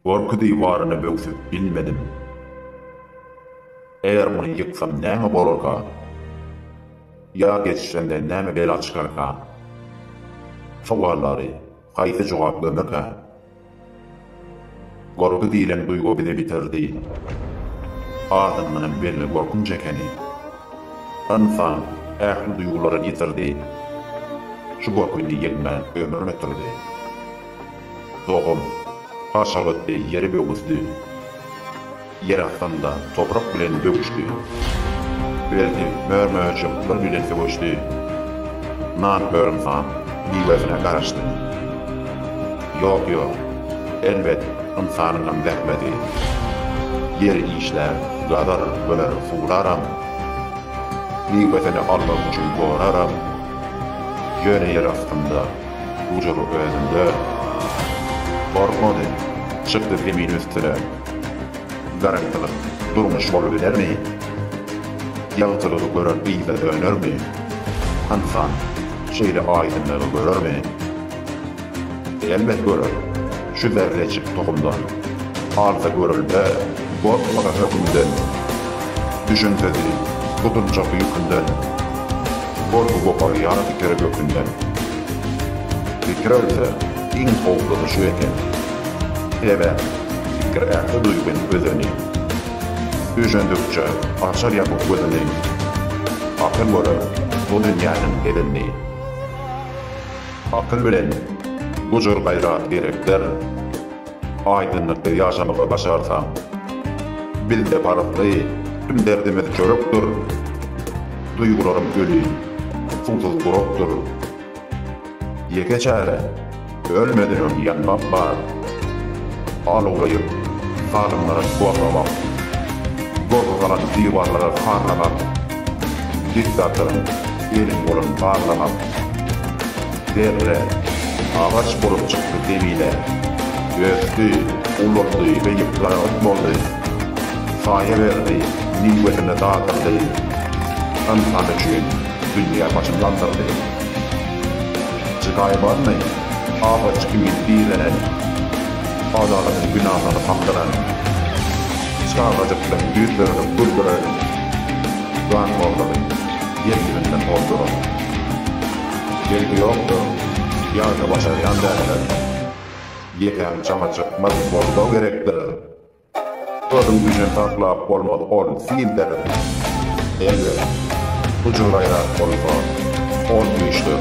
Gorky diwaryny böwsüp bilmedim. Eger muny ýyksam näme bolarka? Ýa geçirende näme bela çykarka? Sowallary haýsy jogap gömerkä? Gorky diýlen duýgy bizi bitirdi. Adyndanam belli gorkunç ekeni. Ynsan ähli duýgularyny ýitirdi. Şu gorky indi ýeňmän ömrüni ötürdi. Dogan, Haşabatdy ýere böwüsdi. Ýer astynda toprak bilen döwüşdi. Berdi mör-möjekler bilen söweşdi. Nar hörümsaň miwesine garaşdy. Ýok-ýok, elbet, ynsanyňam zähmeti. Ýer işlär, gazar, böler, suwlaram. Miwesini almak üçin goraram. Ýöne ýer astynda Gujur özünde. Gorkmady. Çykdy zemin üstüne. Garagtylyk durmuş bolubilermi? Ýagtylygy gören yza dönermi? Ynsan şeýle aýdyňlygy görermi? Elbet görer. Şu berlejik tohumdan. Alsa görelde, gorkmaga hökümden. Düşünsedi, gutuljakdy ýükünden. Gorky goparýar pikiri gökünden. Pikir ölse, iň howplusy şu eken. Sebäp, pikir ähli duýgyň özeni. Düşündikçe, açar ýapyk gözüni. Akyl görer bu dünýäniň edenini. Akyl bilen gujur gaýrat gerekdir. Aýdyňlykda ýaşamagy başarsaň. Bizde parykly, tüm derdimiz çörekdir. Duýgularym öli, suwsuz gurakdyr. Ýeke çäre, ölmeden öň ýanmak bar. Alawlaýyp, salymlara suwaglamak. Gozgalaň diwarlara sarlamak. Diktatoryň eli bolan barlagam. Zerre, agaç bolup çykdy zemine. Ösdi, ulaldy we ýypjyragyt boldy. Saýa berdi, miwesini dadyrdy. Ynsan üçin dünýä başyn galdyrdy. Jygaýy barmy, agaç kimin direnen. Adalatyň binalaryny kakdyran. Çagajyklaryň ýüzleriniň güldüregi, ganhorlygy ýeňlerinden bolduran. Belki ýokdur, ýa-da başarýan däldir. Ýekeň çaňa çykmaz bolsa gerekdir. Özüň üçin saklap bolmaz ol sildir. Elbet, gujur-gaýrat bolsa, ol güýçdir.